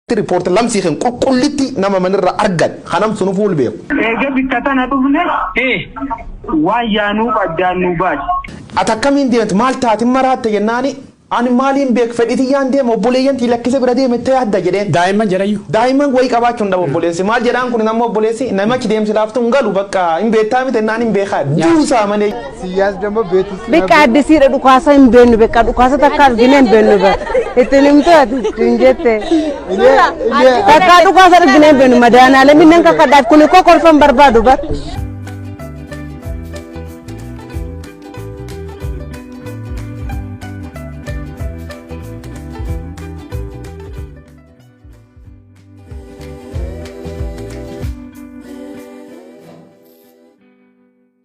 Tti report lamsii ken qulqullitti nama man irra argan ha nam sunu fuul beeku. Eega bikka tana dhufne ee waan yaanuuf addaan nu baase. Ati akkamiin deemte maal taate maraatte jennaani ani maaliin beeka fedhii tiyyaan deema obboleeyyan tiyya lakkise bira deema jette yaadda jedheen. Daa'imman jedhayyu. Daa'imman wayii qabaachuu hin dhabu obboleessi maal jedhaan kun ammoo obboleessi namichi deemsi laaftu hin galu bakka hin beektaa miti jennaan hin beekaa duusaa malee. Siyyaas damma beetus. Beekaa addisiidha dhukaasa hin beennu beekaa dhukaasa takka argine hin beennu bara. Ittiin himtu ati hin jette. Takka dhukaasa argine hin beennu madaanaalee minneen kakkadhaaf kuni koo kolfan barbaadu bara.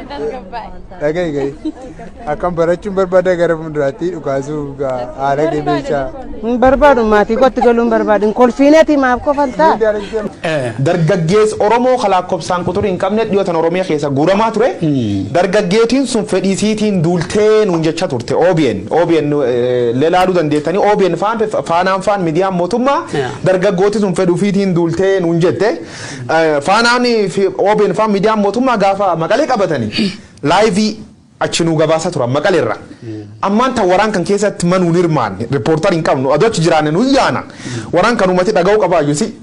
Dhagahi gahi. Akkam barachuun barbaada gara fuulduraatti dhukaasuu haala gebeessaa. Hin barbaadu maatii kootti galuun barbaadu. Hin kolfiineeti maaf kofaltaa? Dargaggees Oromoo kalaakkobsaan quxurii hin qabne dhiyootan Oromiyaa keessa guuramaa ture. Dargaggeetiin sun fedhii siitiin duultee nuun jecha turte OBN. OBN lelaaluu dandeettanii OBN faan faanaan faan miidiyaan mootummaa Yeah. Dargaggooti sun fedha ufiitiin duultee nuun jette. Faanaan fi OBN faa miidiyaan mootummaa gaafa maqalee qabatanii laayivii achi nuu gabaasaa turan maqalee irra. Ammaan tan waraan kan keessatti ma nuun hirmaanne riippoortar hin qabnu adoo achi jiraanne nu yaana. Waraan kan uumati dhaga'uu qabaa iyyuu si.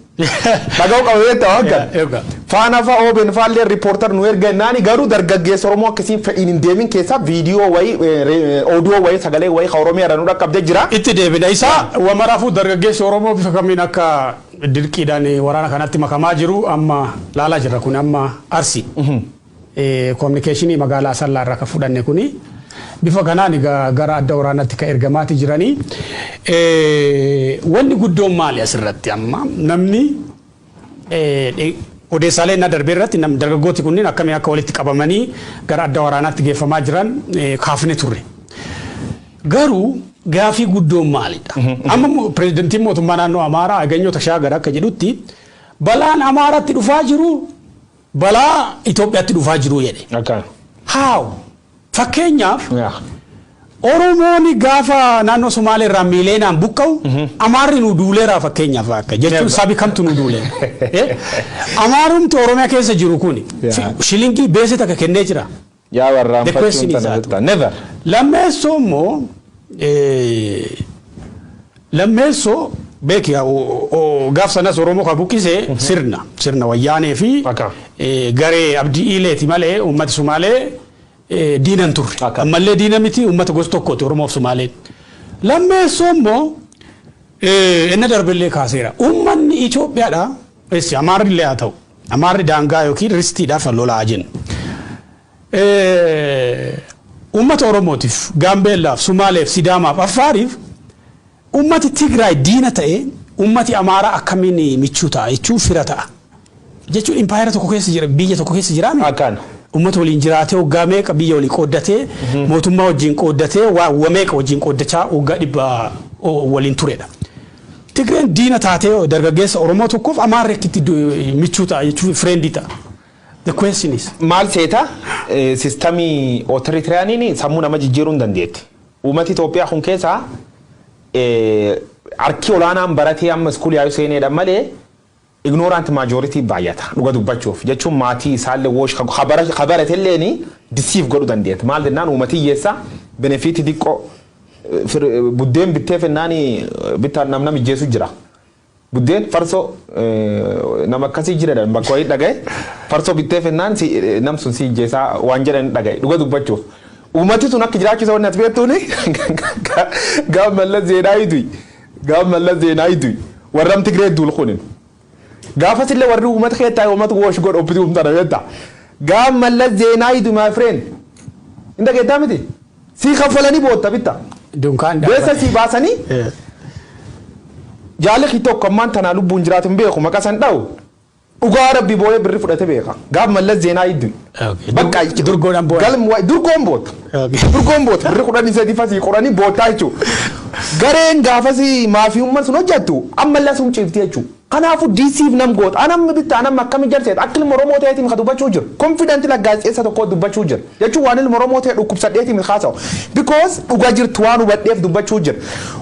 Dhaga'uu qaba beektaa waan kana. Faana fa obn faalleen reporter nu erga jennaani garuu dargaggeessa oromoo akka isiin fedhiin hin deemin keessaa video wayi audio wayi sagalee wayi ka oromiyaa irra nu dhaqqabde jira. Itti deebina isa. Wa maraafuu dargaggeessi oromoo bifa kamiin akka dirqiidhaan waraana kanatti makamaa jiru amma laalaa jirra kuni amma Arsii communication magaalaa Asallaa irraa ka fudhanne kuni bifa kanaan egaa gara adda waraanatti ka ergamaati jiranii. Wanni guddoon maali asirratti amma namni Odeessaalee ennaa darbe irratti dargaggooti kunniin akkamiin akka walitti qabamanii gara adda waraanaatti geeffamaa jiran kaafne turre. Garuu gaafii guddoon maalidha? Amma pirezidantiin mootummaa naannoo Amaaraa Aganyoo Tashaagara akka jedhutti balaan Amaaraatti dhufaa jiru balaa Itoophiyaatti dhufaa jiru jedhe. How? Fakkeenyaaf Yaa. Oromoon gaafa naannoo Somaalee irraa miileenaan buqqa'u Amaarri nu duuleeraa fakkeenyaaf akka jechuun Yaa. sabi kamtu nu duulee. Eh? Amaarumti Oromiyaa keessa jiru kuni Yaa. fi- shilingii beesee takka kennee jira. Yaa warraan The question fachuun is tana that. jettaa. Never. Lammeessoo immoo eh, Lammeesso beeki gaaf sanas Oromoo ka buqqise sirna. Sirna Wayyaanee fi garee Abdi Ileeti malee uummati Sumaalee diina hin turre. Ammallee diina miti uummata gosa tokkooti Oromoo fi Sumaaleen. Lammeesso immoo enna darbellee kaaseera. Uummanni Itoophiyaadha, Amaarri illee haa ta'u, Amaarri daangaa ykn ristiidhaaf lolaa jenna. Uummata Oromootiif, Gaambeellaaf, Sumaaleef, Sidaamaaf, Affaariif uummati Tigraay diina ta'ee uummati Amaaraa akkamiin michuu ta'a jechuun fira ta'a? Jechuun impaayera tokko keessa jira, biyya tokko keessa jiraa miti. Akkaana. Uummata waliin jiraatee waggaa meeqa biyya walii qooddatee, mootummaa wajjin qooddatee waa wa meeqa wajjin qooddachaa waggaa dhibba waliin turedha. Tigreen diina taatee dargaggeessa Oromoo tokkoof Amaarri akkitti michuu ta'a jechuun, friend ta'a? The question is. Maal seeta sistamii ootiritiriyaniin sammuu nama jijjiiruu hin dandeetti. Uumati Itoophiyaa kun keessaa harki olaanaan baratee amma iskuulii haayuu seeneedha malee ignorant majority baay'ata dhuga dubbachuuf jechuun maatii isaallee woosh ka baratelleen disiif godhu dandeetti. Maal jennaan uumati hiyyeessa benefiitii diqqoo buddeen bittee fennaan bitta namna mijjeessu jira. Buddeen farsoo nama akkasii jira jedhan bakka wayii dhagaye farsoo bittee fennaan nam sun si ijjeesaa waan jedhan dhagaye dhuga dubbachuuf. Uumati sun akka jiraachuu isa wanni ati beektuuni gaaf mallas zeenaayi du'i gaaf mallas zeenaayi du'i warram Tigree duul kunin. Gaafas illee warri uumata keettaa uumata woosh godha obbiti uumtana beektaa. Gaaf mallas zeenaayi du'i my friend. Hin dhageettaa miti? Sii kaffalanii bootta bitta. Dunkaan Beessa dhaabate. sii baasanii Eh. jaalli kii tokko ammaan tanaa lubbuun jiraatu hin beeku maqaa san dha'u. Dhugaa rabbi booyee birri fudhate beeka. Gaaf mallas zeenaa iddu. Okay. Bakka Dur- durgoodhaan booda. Galm waa'ee durgoon boota. Okay. Durgoon boota. Birri kudhanii sadii fasii qoranii bootaa jechuudha. Gareen gaafasii maafiyummaan sun hojjettu ammallee sun ciifti jechuudha. Kanaafu deceive nam goota. Anammi bitta anammi akkami jar seeta akka ilma oromoo ta'eeti mika dubbachuu jira. Confident like gaazexeessa tokkoo dubbachuu jira. Jechuun waan ilma oromoo ta'e dhukkubsadheeti mika haasa'u. Because dhuga jirtu waan hubadheef dubbachuu jira.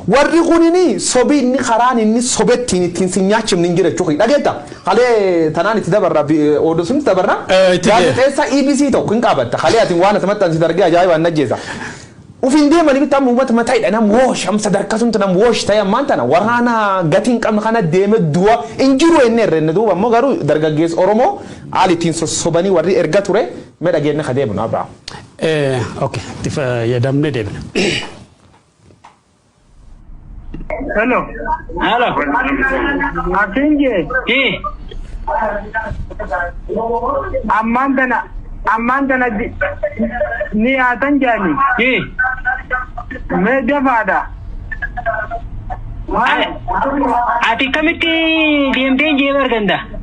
Warri kunini sobi inni karaan inni sobettiin ittiin sin nyaachifne hin jira jechuu kiyya. Dhageetta? Kalee tanaan itti dabarra oduu sun itti dabarra. Itti deema. Gaazexeessa EBC tokko hin qaabatta. Kalee atin waan ati maxxansite argee ajaa'ibaan na ajjeesa. Uf hin deemani mitti amma umat mata hidha nam woosh am sadarka sumta nam woosh tahe ammaan tana waraana gati hin qabne kana deeme duwa hin jiru enne irrenne duuba ammoo garu dargaggees oromoo aal ittiin sossobani warri erga ture me dhageenne ha deebinu Abraham. Ok itti fayyadamne deebina. Hello. Hello. Atiin jee. Hii. Ammaan tana ammaan tana di- ni haatan jaani. Hii. Mee dafaadha. Ati kamitti deemtee jeeba arganda?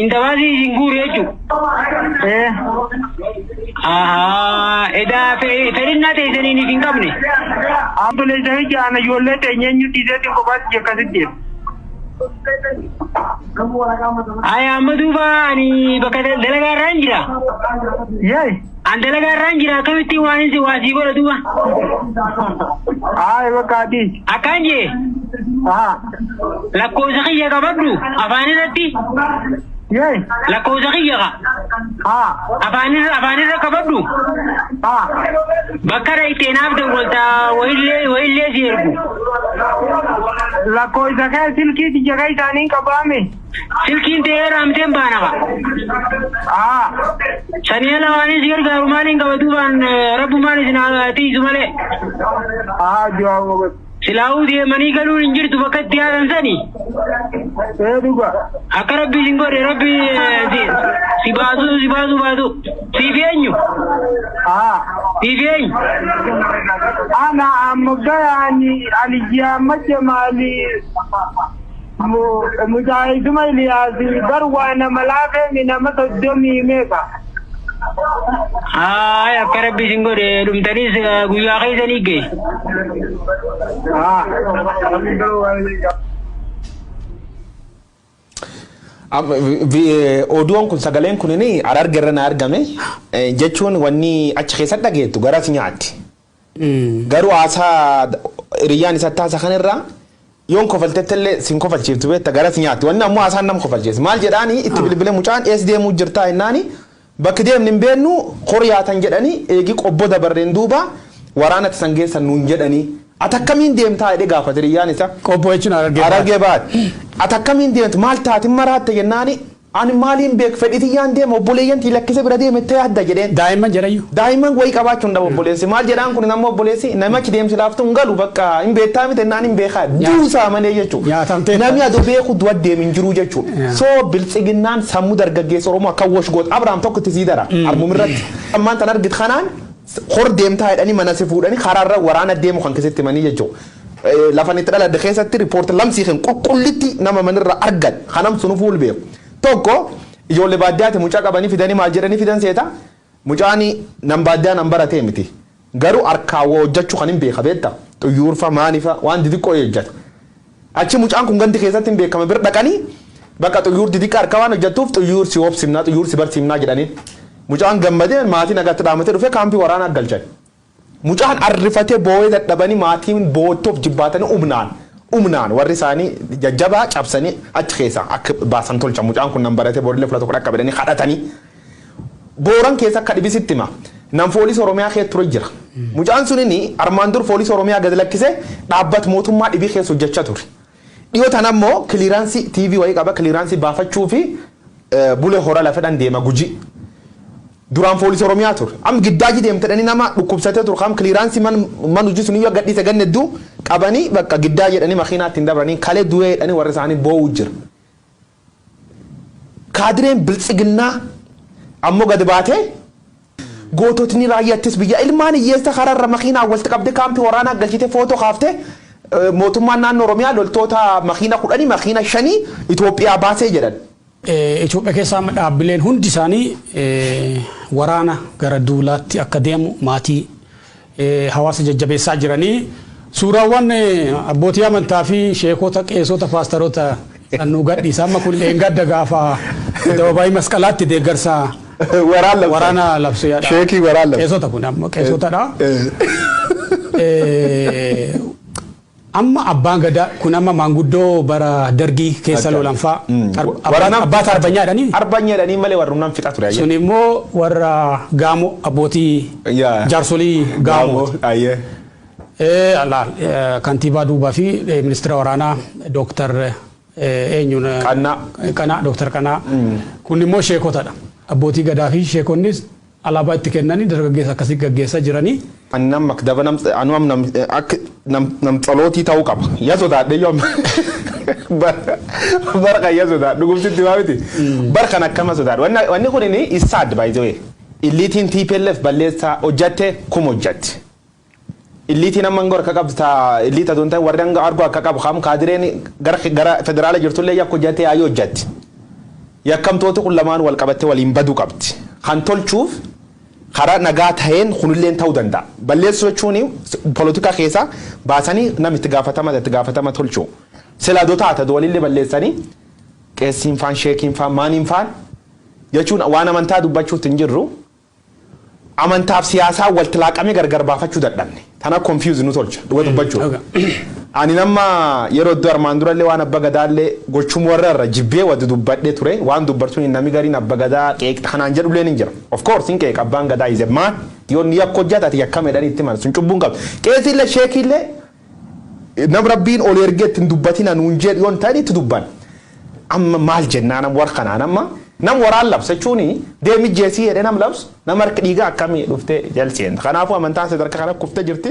Indamaasii isin guuru jechuudha. Ee. Ahaa, edaa fe- fedhinnaa teessaniin isin qabne. Obboleessa hojii ana ijoollee teenya eenyu dhiiseetti kophaatti akkasitti jedhe. Ayi amma duuba ani bakka dalagaa irraan jira. Yee. An dalagaa irraan jira akkamittiin waan inni waa sii godha duuba. Ayi bakka ati. Akkaan jee Haa. lakkoofsa kiyya qabadhu afaan irratti Yee. lakkoofsa kiyya ka Haa. afaan irra afaan irra qabadhu Haa. bakka irra itti naaf dawwalta wayillee wayillee si ergu. Lakkoofsa kee silkii tiyya kee isaaniin qabaame. Silkiin tee eeraamteen baanama. Aa. Saniya lawaanii si gargaaru maaliin qaba duubaan rabbumaan isin haa tiisu malee. Haa jiraa mogas. Silaahuu deemanii galuun hin jirtu bakka itti yaadan sani. Ee dhuga. Akka rabbi isin godhe rabbi eh, si- si baasuu si baasuu baasuu. Siif eenyu? Haa. Siif eenyu? Ana amma gayaani aliyyaa macha maali. Mujaahiduma Iliyaasi bar waa nama laafeemi nama soddomii meeqa. Haay akka rabbi isin godhe dhumtanis eh, guyyaa keessanii ga'e. Am- vi- vi- Oduun kun sagaleen kun hararge irra na argame Eh, jechuun wanni achi keessatti dhageettu garas nyaatti. Garuu haasaa hiriyyaan isatti haasa kan irraa yoon kofaltettellee sin kofalchiiftu beetta garas nyaatti wanni ammoo haasaan nam kofalcheessa maal jedhaani itti bilbile mucaan ees deemuu jirtaa jennaani bakki deemni hin beennu hor yaatan jedhani eegi qobbo dabarreen duuba waraanatti san geessan nuun jedhani ati akkamiin deemtaa jedhee gaafate hiriyyaan isaa. Qobbo jechuun Harargee bahaati. Harargee bahaati. Ati akkamiin deemta maal taatin maraatte jennaani Ani maaliin beek fedhii tiyyaan deema obboleeyyan tiyya lakkise bira deema jette yaadda jedheen. Daa'imman jedhayyu. Daa'imman wayii qabaachuu hin dhabu obboleessi. Maal jedhaan kunin amma obboleessi nami achi deemsi laaftu hin galu bakka hin beettaa miti jennaan hin beekaa duusaa malee jechuu. Nami ado beeku du'a deem hin jiruu jechuu. So biltsiginnaan sammu dargaggeessa Oromoo akka wash goot Abraham tokko itti sii dara armum irratti. Ammaan tan argit kanaan hor deemtaa jedhanii mana si fuudhanii karaa irra waraana deemu kan kee sitti himanii jechuu. Lafa ani itti dhaladhe keessatti report lamsii kan qulqullitti nama mana irraa argan kan nam sunu fuul beeku. Tokko ijoollee baadiyyaati mucaa qabanii fidanii maal jedhanii fidan seeta mucaani nam baadiyyaa nam baratee miti garuu harkaa waa hojjachuu kan hin beeka beetta xuyyuurfa maanifa waan didiqqoo hojjata achi mucaan kun gandi keessatti hin beekama bir dhaqanii bakka xuyyuur didiqqa harkaa waan hojjattuuf xuyyuur si hoobsimnaa xuyyuur si barsiimnaa jedhaniin mucaan gammadee maatii nagaatti dhaamatee dhufee kaampii waraanaa galchan. Mucaan arrifatee boo'ee dadhabanii maatiin boo'utti of jibbaatanii umnaan umnaan warri isaanii jajjabaa cabsanii achi keessaa akka baasan tolchan. Mucaan kun nan baratee borillee fula tokko dhaqqaba jedhanii kadhatanii Booran keessa akka dhibi sitti hima. Nan foolis Oromiyaa keessa ture jira. Mucaan sunini armaan dur foolis Oromiyaa gad lakkisee dhaabbat mootummaa dhibii keessa hojjachaa ture. Dhiyoo tana ammoo kiliraansii TV wayii qaba kiliraansii baafachuufi Bule Hora lafedhan deema Gujii. Duraan Foolisi Oromiyaa ture. Am Giddaaji deemtedhani nama dhukkubsatee ture kam kiliraansii man man hujii suniyyuu akka gadhiise ganna hedduu qabanii bakka Giddaaji jedhanii makiinaa ittiin dabranii kalee du'ee jedhanii warri isaanii boo'uu jira. Kaadireen Biltsiginnaa ammoo gad baatee goototni Raayyaa Ittis Biyyaa ilmaan hiyyeessa karaarra makiinaan walitti qabdee kaampii waraanaa galchitee footoo kaaftee mootummaan naannoo Oromiyaa loltoota makiina kudhanii makiina shanii Itoophiyaa baasee jedhan. Itoophiya keessa amma dhaabbileen hundi isaanii waraana gara duulaatti akka deemu maatii hawaasa jajjabeessaa jiranii suuraawwan abbootii amantaa fi sheekota qeesota paastaroota san nu gadhiisa amma kun dheengadda gaafa addababaayii masqalaatti deeggarsa Waraan labsan. waraana labsee yaada. Sheekii waraan labsan. qeesota kun amma qeesotadha. Eh, Amma abbaan gadaa kun amma maanguddoo bara dargii keessa loolan faa abbaa taarbanyaa jedhanii? Arbanya jedhanii malee warrum nam fixa ture. Suni immoo warra gaamo abbootii jaarsolii gaamooti. Laal kantiibaa duubaa fi ministira waraanaa dooktar eenyuun qanaa dooktar qanaa kun immoo sheekotadha abbootii gadaa fi sheekonnis Alaabaa itti kennani dargaggeessa akkasi gaggeessa jirani. Ani nam makdaba nam anu am nam ak nam nam tsalootii ta'uu qaba ya sodaadheyyuu amma bara bara kan ya sodaadhu dhugumtitti maa miti bara kan akkama sodaadhu wanna wanni kunini is sad by the way illiitiin TPLF balleessaa hojjatte kum hojjatti Illiitiin amma angoo harka qabdu ta illiit adoo hin ta'in warri anga argoo akka qabu kam kaadireen gara ki- gara federaala jirtullee yakka hojjattee yaa'ii hojjatti. Yakkamtooti kun lamaan wal qabattee waliin baduu qabdi. Kan tolchuuf karaa nagaa taheen kunilleen ta'uu danda'a. Balleessuu jechuun polotikaa keessaa baasanii nam itti gaafatama itti gaafatama tolchuu. Sila adoo taate adoo walillee balleessanii qeessiin faan sheekiin faan maaniin faan jechuun waan amantaa dubbachuutti hin jirru. Amantaaf siyaasaan walti laaqamee gargar baafachuu dadhabne. Tana confuse nu tolcha dhuga dubbachuuf. Anin amma yeroo iddoo armaan durallee waan abba gadaallee gochum warra irra jibbee wa dudubbadhe ture waan dubbartuni nami gariin abba gadaa qeeqxa kanaan jedhulleen hin jira. Of course hin qeeqa abbaan gadaa is a man yoo inni yakka hojjate ati yakkame jedhanii itti himan sun cubbuu hin qabdu. Qeesiillee sheekiillee Nam Rabbiin oli ergee itti hin dubbatina nuun jedhu yoo hin ta'in itti dubban. Amma maal jennaa nam war kanaan amma nam waraan labsa jechuun deem ijjeesii jedhee nam labsu nam harki dhiigaa akkami dhuftee jal seenta. Kanaafuu amantaan sadarkaa kana kufte jirti.